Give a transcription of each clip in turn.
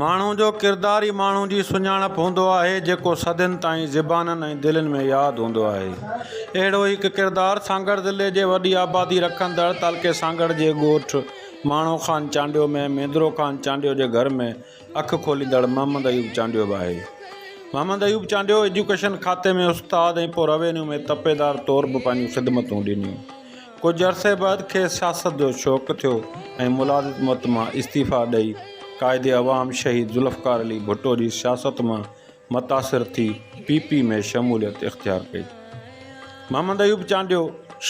ماڻهو جو ڪردار ئي ماڻهو جي سڃاڻپ هوندو آهي، جيڪو صدين تائين زبانن ۽ دلين ۾ ياد هوندو آهي. اهڙو ئي هڪ ڪردار سانگهڙ ضلعي جي وڏي آبادي رکندڙ تعلقي سانگهڙ جي ڳوٺ ماڻهو خان چانڊيو ۾ ميندرو خان چانڊيو جي گهر ۾ اک کوليندڙ محمد ايوب چانڊيو به آهي. محمد ايوب چانڊيو ايجوڪيشن کاتي ۾ استاد ۽ پوء روينيو ۾ تپيدار طور به پنهنجون خدمتون ڏنيون. ڪجهه عرصي بعد کيس سياست جو شوق ٿيو ۽ ملازمت مان استعيفيٰ ڏئي قائد عوام شهيد ذوالفقار علي ڀٽو جي سياست مان متاثر ٿي پي پي ۾ شموليت اختيار ڪئي. محمد ايوب چانڊيو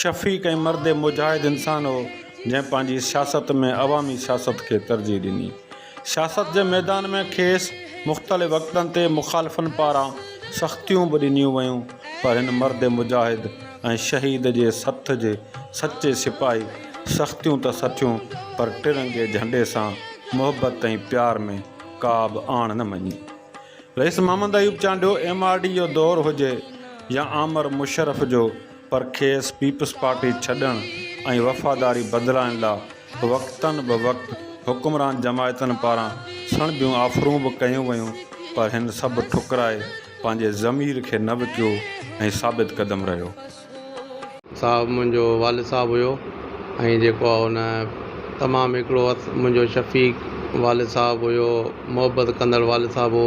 شفيق ۽ مرد مجاهد انسان هو جنهن پنهنجي سياست ۾ عوامي سياست کي ترجيح ڏني. سياست جي ميدان ۾ کيس مختلف وقتن تي مخالفن پاران سختيون به ڏنيون ويون پر هن مرد مجاهد ۽ شهيد جي سٿ جي سچي سپاهي سختيون ته سٺيون پر ٽرنگي جهنڊي سان محبت ۽ پيار ۾ ڪابه آڻ نه مڃي. رئيس Muhammad Ayub Chandio M R D جو دور هجي يا آمر مشرف جو پر کيس پيپلز پارٽي ڇڏڻ ۽ وفاداري بدلائڻ لا وقتاً به وقت حڪمران جماعتن پاران سڻڀيون آفرون به ڪيون ويون پر هن سڀ ٺڪرائي پنهنجي ضمير کي نه وڪيو ۽ ثابت قدم رهيو. صاحب منهنجو والد صاحب هيو ۽ جيڪو آ هن تمام هڪڙو منهنجو شفيق والد صاحب هيو محبت ڪندڙ والد صاحب هو.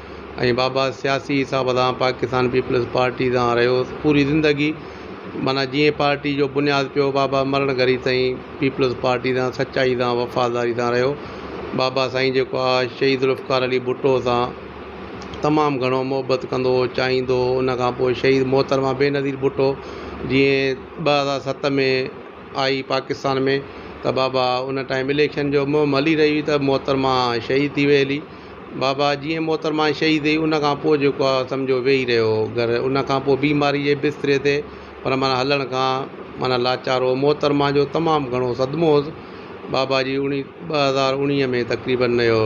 ۽ بابا سياسي حساب سان پاڪستان پيپلز پارٽي سان رهيو پوري زندگي معنيٰ جيئن پارٽي جو بنياد پيو بابا مرڻ گهڙي تائين پيپلز پارٽي سان سچائي سان وفاداري سان رهيو بابا سائين جيڪو آهي شهيد ذوالفقار علي ڀٽو سان تمام گهڻو محبت ڪندو هو چاهيندو هو ان کان پوء شهيد محترمه بينظير ڀٽو جيئن ٻه هزار ست ۾ آئي پاڪستان ۾ ته بابا ان ٽائيم اليڪشن جو مهم هلي رهي هئي ته محترمه شهيد ٿي وئي هلي بابا جيئن محترمه شهيد ٿي ان کان پوء جيڪو آ سمجهو ويهي رهيو هو گهر ان کان پوء بيماري جي بستري تي پر معنيٰ هلڻ کان معنيٰ لاچار هو محترمه جو تمام گهڻو صدمو هوس بابا جي اڻي ٻه هزار اڻيهه ۾ تقريباً ان جو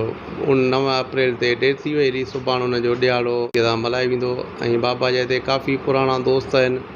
اڻ نو اپريل تي ڊيٿ ٿي وئي هلي سڀاڻ ان جو ڏهاڙو ڌوم ڌام سان ملهايو ويندو ۽ بابا جا هتي ڪافي پراڻا دوست آهن.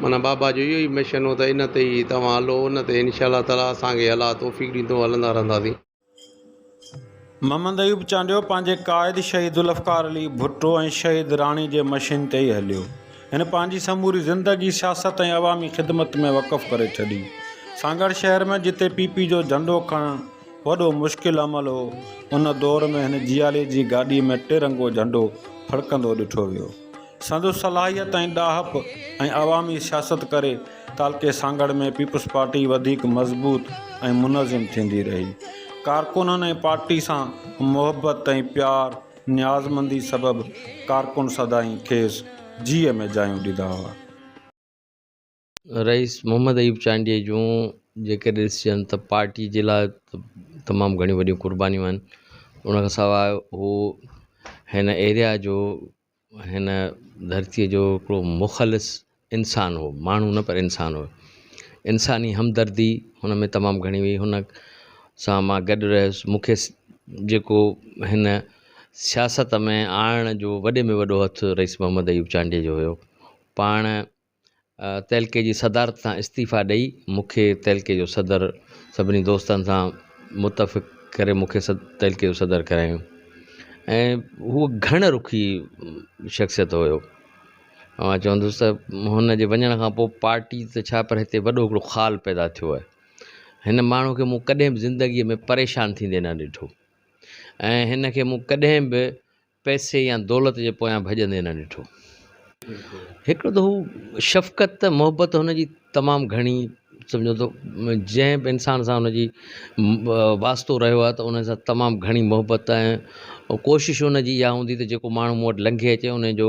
معنيٰ بابا جو اهو ئي مشن هو ته ان تي ئي توهان هلو، ان تي انشاء الله تعاليٰ اسان کي الله توفيق ڏيندو هلندا رهنداسين. محمد ايوب چانڊيو پنهنجي قائد شهيدذوالفقار علي ڀٽو ۽ شهيد راڻي جي مشين تي ئي هليو. هن پنهنجي سموري زندگي سياست ۽ عوامي خدمت ۾ وقف ڪري ڇڏي. سانگهڙ شهر ۾ جتي پي پي جو جهنڊو کڻڻ وڏو مشڪل عمل هو، ان دور ۾ هن جيالي جي گاڏي ۾ ٽرنگو جهنڊو ڦڙڪندو ڏٺو ويو. سندس صلاحيت ۽ ڏاهپ ۽ عوامي سياست ڪري تعلقي سانگهڙ ۾ پيپلز پارٽي وڌيڪ مضبوط ۽ منظم ٿيندي رهي. ڪارڪنن ۽ پارٽي سان محبت ۽ پيار نيازمندي سبب ڪارڪن سدائين کيس جيء ۾ جايون ڏيندا هئا. رئيس محمد ايوب چانڊيي جون جيڪي ڏسجن ته پارٽي جي لاء تمام گهڻيون وڏيون قربانيون آهن ان کان سواء هو هن ايريا جو هن ڌرتيء جو هڪڙو مخلص انسان هو ماڻهو نه پر انسان هو انساني همدردي هن ۾ تمام گهڻي هئي هن سان مان گڏ رهيس مونکي جيڪو هن سياست ۾ آڻڻ جو وڏي ۾ وڏو هٿ رئيس محمد ايوب چانڊيي جو هيو پاڻ تعلقي جي صدارت تان استعيفيٰ ڏئي مون کي تعلقي جو صدر سڀني دوستن سان متفق ڪري مون کي تعلقي جو صدر ڪرايائون ۽ هو گهڻ رخي شخصيت هيو اوهان چوندوس ته هن جي وڃڻ کان پوء پارٽي ته ڇا پر هتي وڏو هڪڙو خال پيدا ٿيو آهي هن ماڻهو کي مون ڪڏهن به زندگي ۾ پريشان ٿيندي نه ڏٺو ۽ هن کي مون ڪڏهن به پئسي يا دولت جي پويان ڀڄندي نه ڏٺو. هڪڙو ته هو شفقت ته محبت هن جي تمام گهڻي سمجهو ته جنهن به انسان سان هن جي واسطو رهيو آهي ته ان سان تمام گهڻي محبت ۽ ڪوشش ان جي اها هوندي ته جيڪو ماڻهو مون وٽ لنگهي اچي ان جو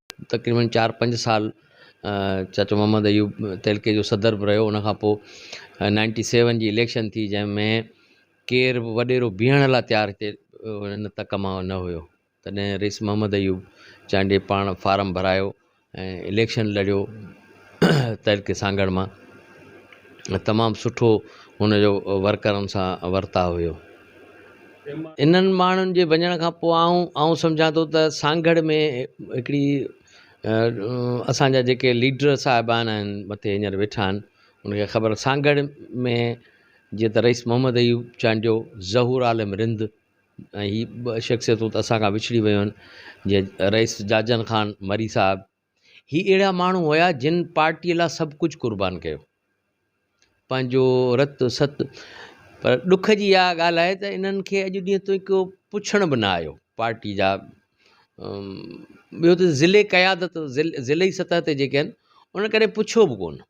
تقريبن چار پنج سال چاچو محمد ايوب تحلڪي جو صدر بھ رھيو ان کان پوء نائنٽي سيون جي اليڪشن ٿي جنھن ۾ ڪير بھ وڏيرو بيھڻ لاء تيار ھتي ان تڪ مان نھ ھيو تڏھن رئيس محمد ايوب چانڊيي پاڻ فارم ڀرايو ۽ اليڪشن لڙيو تحلڪي سانگھڙ مان تمام سٺو ھن جو ورڪرن سان ورتاء ھيو انهن ماڻهن جي وڃڻ کان پوء آئون آئون سمجهان ٿو ته سانگهڙ ۾ هڪڙي اسانجا جيڪي ليڊر صاحبان آهن مٿي هينئر ويٺا آهن ان کي خبر سانگهڙ ۾ جيئن ته رئيس محمد ايوب چانڊيو ظهور عالم رند ۽ هي ٻه شخصيتون ته اسان کان وڇڙي ويون آهن جيئن رئيس جاجن خان مري صاحب هي اهڙا ماڻهو هيا جن پارٽيء لا سڀ ڪجهه قربان ڪيو پنهنجو رت ست پر ڏک جي اها ڳالهه آهي ته انهن کي اڄ ڏينهن تائين ڪو پڇڻ به نه آيو پارٽي جا ٻيو ته ضلعي قيادت ضلعي سطح تي جيڪي آهن انهن ڪڏهن پڇيو به ڪونه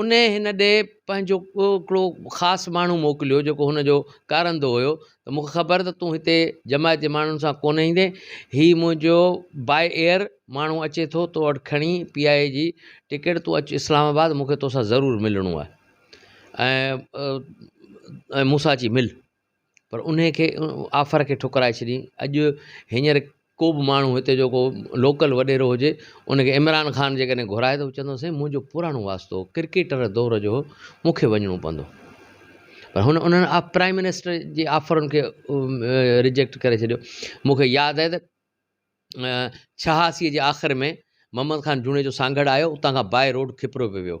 انهيء هن ڏي پنهنجو ٻيو هڪڙو خاص ماڻهو موڪليو جيڪو هن جو ڪارندو هيو ته مون کي خبر ته تون هتي جماعت جي ماڻهن سان ڪونه ايندين هي منهنجو باء ايئر ماڻهو اچي ٿو تو وٽ کڻي پي آء اي جي ٽڪيٽ تون اچ اسلام آباد مون کي توسان ضرور ملڻو آهي ۽ ۽ مون سان اچي مل پر انهيء کي آفر کي ٺڪرائي ڇڏيائين اڄ هينئر ڪو به ماڻهو هتي جو ڪو لوڪل وڏيرو هجي ان کي عمران خان جي ڪڏهن گهرائي ته چوندو سائين منهنجو پراڻو واسطو هو ڪرڪيٽر دور جو هو مونکي وڃڻو پوندو پر هن انهن آف پرائم منسٽر جي آفرن کي رجيڪٽ ڪري ڇڏيو مونکي ياد آهي ته ڇهاسي جي آخر ۾ محمد خان جوڻيجو سانگهڙ آيو اتان کان باء روڊ کپرو پيو ويو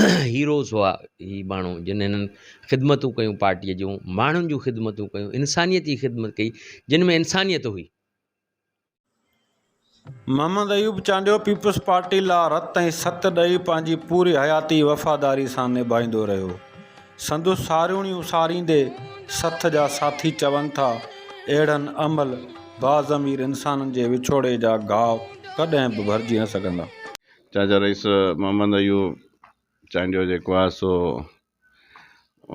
هيروز هئا هي ماڻهو جن هنن خدمتون ڪيون پارٽيء جون ماڻهن جون خدمتون ڪيون انسانيت جي خدمت ڪئي جن ۾ انسانيت هئي. محمد ايوب چانڊيو پيپلز پارٽي لا رت ۽ ست ڏئي پنهنجي پوري حياتي وفاداري سان نڀائيندو رهيو. سندس ساريوڻيون ساريندي سٿ جا ساٿي چون ٿا اهڙن املهه باضمير انسانن جي وڇوڙي جا گهاء ڪڏهن به ڀرجي نه سگهندا. چاچا رئيس محمد ايوب چانڊيو جيڪو آهي سو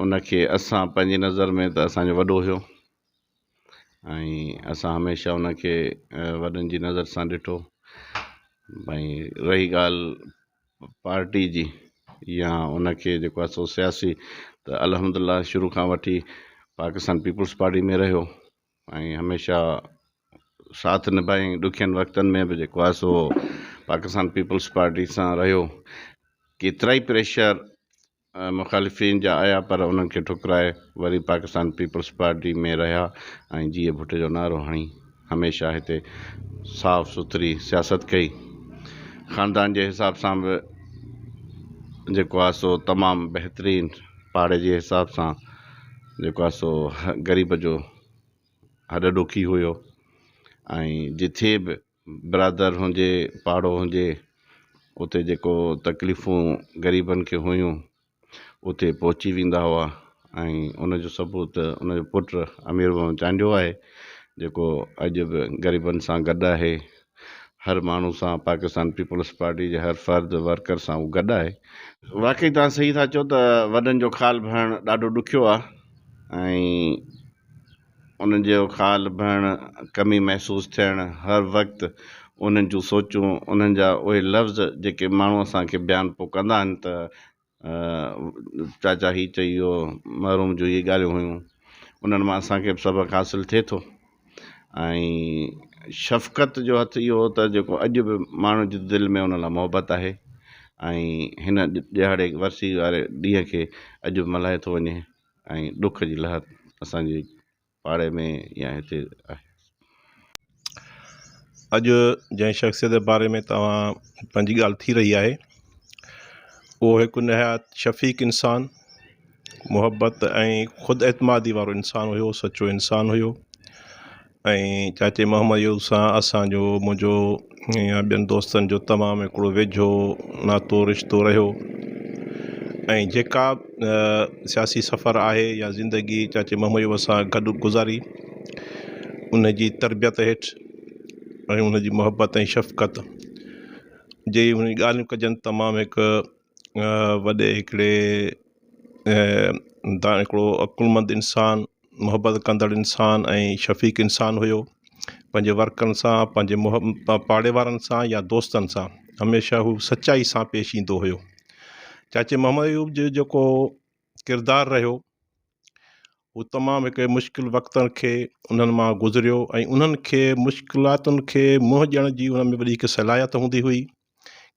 ان کي اسان پنهنجي نظر ۾ ته اسان جو وڏو هيو ۽ اسان هميشه ان کي وڏن جي نظر سان ڏٺو ڀائي رهي ڳالهه پارٽي جي يا ان کي جيڪو آهي سو سياسي ته الحمد لله شروع کان وٺي پاڪستان پيپلز پارٽي ۾ رهيو ۽ هميشه ساٿ نڀائين ڏکين وقتن ۾ به جيڪو آهي سو پاڪستان پيپلز پارٽي سان رهيو ڪيترائي پريشر مخالفين جا آيا پر انهن کي ٺڪرائي وري پاڪستان پيپلز پارٽي ۾ رهيا ۽ جيئي ڀٽ جو نعرو هڻي هميشه هتي صاف سٿري سياست ڪئي خاندان جي حساب سان به جيڪو آهي سو تمام بهترين پاڙي جي حساب سان جيڪو آهي سو غريب جو هڏ ڏوکي هيو ۽ جٿي به برادر هجي پاڙو هجي اتي جيڪو تڪليفون غريبن کي هيون اتي پهچي ويندا هئا ۽ ان جو ثبوت ان جو پٽ امير محمد چانڊيو آهي جيڪو اڄ به غريبن سان گڏ آهي هر ماڻهو سان پاڪستان پيپلز پارٽي جي هر فرد ورڪر سان هو گڏ آهي. واقعي توهان صحيح ٿا چئو ته وڏن جو خال ڀرڻ ڏاڍو ڏکيو آهي ۽ انهن جو خال ڀرڻ، ڪمي محسوس ٿيڻ، هر وقت انهن جون سوچون، انهن جا اهي لفظ جيڪي ماڻهو اسان کي بيان پو ڪندا آهن ته، چاچا هي چئي ويو، محروم جون اهي ڳالهيون هيون، انهن مان اسان کي به سبق حاصل ٿئي ٿو ۽ شفقت جو هٿ اهو ته جيڪو اڄ به ماڻهن جي دل ۾ ان لاء محبت آهي ۽ هن ڏهاڙي ورسي واري ڏينهن کي اڄ به ملهايو ٿو وڃي ۽ ڏک جي لهر اسان جي پاڙي ۾ يا هتي آهي. اڄ جنهن شخصيت جي باري ۾ توهان پنهنجي ڳالهه ٿي رهي آهي اهو هڪ نهايت شفيق انسان محبت ۽ خود اعتمادي وارو انسان هيو سچو انسان هيو ۽ چاچي محمد يوسف سان اسان جو منهنجو يا ٻين دوستن جو تمام هڪڙو ويجهو ناتو رشتو رهيو ۽ جيڪا سياسي سفر آهي يا زندگي چاچي محمد عيوب سان گڏ گذاري ان جي تربيت هيٺ ۽ ان جي محبت ۽ شفقت جي ڳالهيون ڪجن تمام هڪ وڏي هڪڙي تان هڪڙو عقلمند انسان محبت ڪندڙ انسان ۽ شفيق انسان هيو پنهنجي ورڪرن سان پنهنجي مح پاڙي وارن سان يا دوستن سان هميشه هو سچائي سان پيش ايندو هيو چاچي محمد ايوب جو جيڪو ڪردار رهيو هو تمام هڪ مشڪل وقتن کي انهن مان گذريو ۽ انهن کي مشڪلاتن کي منهن ڏيڻ جي انهن ۾ وڏي هڪ صلاحيت هوندي هئي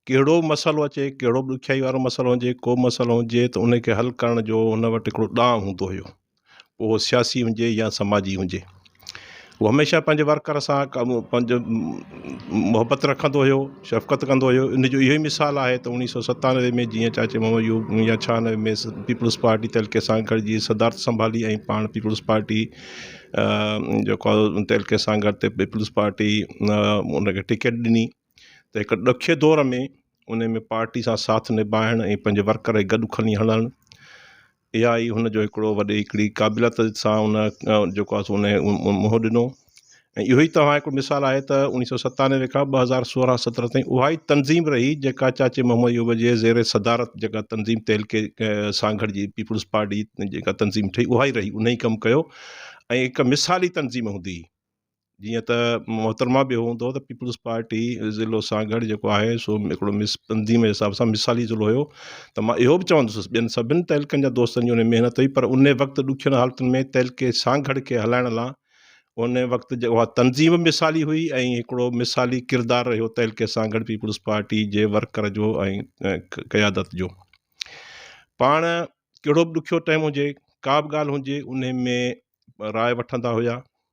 ڪهڙو به مسئلو اچي، ڪهڙو به ڏکيائي وارو مسئلو هجي، ڪو به مسئلو هجي ته ان کي حل ڪرڻ جو هن وٽ هڪڙو ڏانء هوندو هيو، پوء اهو سياسي هجي يا سماجي هجي. هو هميشه پنهنجي ورڪر سان پنهنجو محبت رکندو هيو، شفقت ڪندو هيو، ان جو اهو ئي مثال آهي ته اڻيهه سؤ ستانوي ۾ جيئن چاچي محمد ايوب يا ڇهانوي ۾ پيپلز پارٽي تحلڪي سان گڏجي صدارت سنڀالي ۽ پاڻ پيپلز پارٽي جيڪو تحلڪي سان گڏ تي پيپلز پارٽي ان کي ٽڪيٽ ڏني. ته هڪ ڏکئي دور ۾ ان ۾ پارٽي سان ساٿ نڀائڻ ۽ پنهنجي ورڪر کي گڏ کڻي هلڻ اها ئي هن جو هڪڙو وڏي هڪڙي قابليت سان ان جيڪو آهي سو ان منهن ڏنو ۽ اهو ئي توهان هڪڙو مثال آهي ته اڻيهه سؤ ستانوي کان ٻه هزار سورهن سترهن تائين اها ئي تنظيم رهي جيڪا چاچي محمد ايوب جي زير صدارت جيڪا تنظيم تهلڪي سان گڏجي پيپلز پارٽي جيڪا تنظيم ٺهي اها ئي رهي ان ئي ڪم ڪيو ۽ هڪ مثالي تنظيم هوندي هئي جيئن ته محترمه به هوندو ته پيپلز پارٽي ضلعو سانگهڙ جيڪو آهي سو هڪڙو مس تنظيم جي حساب سان مثالي ضلعو هيو ته مان اهو به چوندس ٻين سڀن تعلقن جا دوستن جي ان محنت هئي پر ان وقت ڏکين حالتن ۾ تعلقي سانگهڙ کي هلائڻ لا ان وقت جو اها تنظيم مثالي هئي ۽ هڪڙو مثالي ڪردار رهيو تعلقي سانگهڙ پيپلز پارٽي جي ورڪر جو ۽ قيادت جو پاڻ ڪهڙو به ڏکيو ٽائيم هجي ڪا به ڳالهه هجي ان ۾ راء وٺندا هيا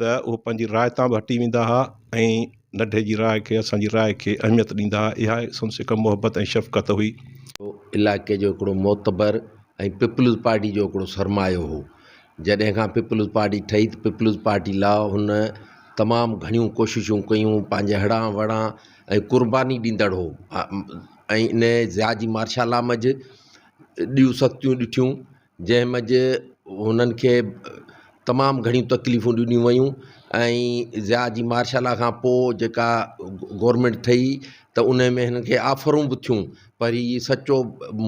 ته اهي پنهنجي راء تان به هٽي ويندا ها ۽ نڍي جي راء کي اسان جي راء کي اهميت ڏيندا ها اها ئي سندس هڪ محبت ۽ شفقت هئي. هو علائقي جو هڪڙو معتبر ۽ پيپلز پارٽي جو هڪڙو سرمايو هو. جڏهن کان پيپلز پارٽي ٺهي ته پيپلز پارٽي لاء هن تمام گهڻيون ڪوششون ڪيون، پنهنجي هڙان وڙان ۽ قرباني ڏيندڙ هو ۽ انهيء ضياء جي مارشالا منجهه ڏيون سختيون ڏٺيون. جنهن منجهه هنن کي تمام گهڻيون تڪليفون ڏنيون ويون ۽ ضياء جي مارشلا کان پوء جيڪا گورمينٽ ٺهي ته ان ۾ هنن کي آفرون به ٿيون پر هي سچو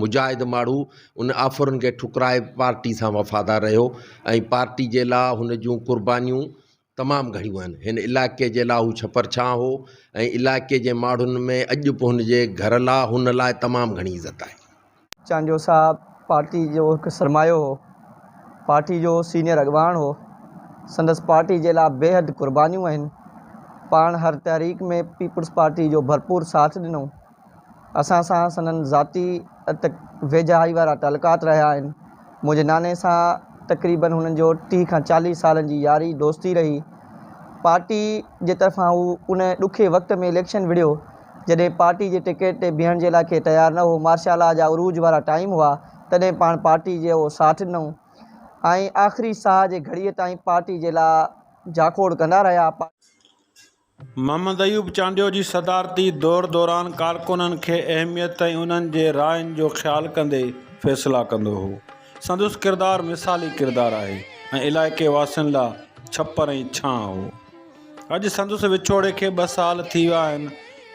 مجاهد ماڻهو ان آفرن کي ٺڪرائي پارٽي سان وفادار رهيو ۽ پارٽي جي لا هن جون قربانيون تمام گهڻيون آهن. هن علائقي جي لاء هو ڇپر ڇانء هو ۽ علائقي جي ماڙهن ۾ اڄ به هن جي گهر لاء هن لاء تمام گهڻي عزت آهي. چانڊيو صاحب پارٽي جو هڪ سرمايو هو. پارٽي جو سينيئر اڳواڻ هو. سندس پارٽي جي لاء بيحد قربانيون آهن. پاڻ هر تحريڪ ۾ پيپلز پارٽي جو ڀرپور ساٿ ڏنو. اسان سان سندن ذاتي ته ويجهائي وارا تعلقات رهيا آهن. منهنجي ناني سان تقريبن هنن جو ٽيهه کان چاليهه سالن جي ياري دوستي رهي. پارٽي جي طرفان هو ان ڏکي وقت ۾ اليڪشن وڙهيو، جڏهن پارٽي جي ٽڪيٽ تي بيهڻ جي لاء ڪي تيار نه هو. مارشا لا جا عروج وارا ٽائيم هئا، تڏهن پاڻ پارٽي جي اهو ساٿ ڏنو ۽ آخري ساهه جي گهڙيء تائين پارٽي جي لا جاکوڙ ڪندا رهيا. محمد ايوب چانڊيو جي صدارتي دور دوران ڪارڪنن کي اهميت ۽ انهن جي راين جو خيال ڪندي فيصلا ڪندو هو. سندس ڪردار مثالي ڪردار آهي ۽ علائقي واسين لا ڇپر ۽ ڇانء هو. اڄ سندس وڇوڙي کي ٻه سال ٿي ويا آهن.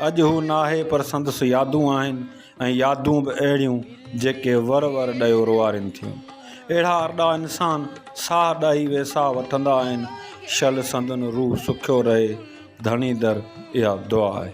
اڄ هو ناهي پر سندس يادون آهن. ۽ يادون به اهڙيون جيڪي ور ور ڏيو روئارين ٿيون. اهڙا ارڏا انسان ساهه ڏائي ويساهه وٺندا آهن، شل سندن روح سکيو رهي ڌڻي در اها دعا آهي.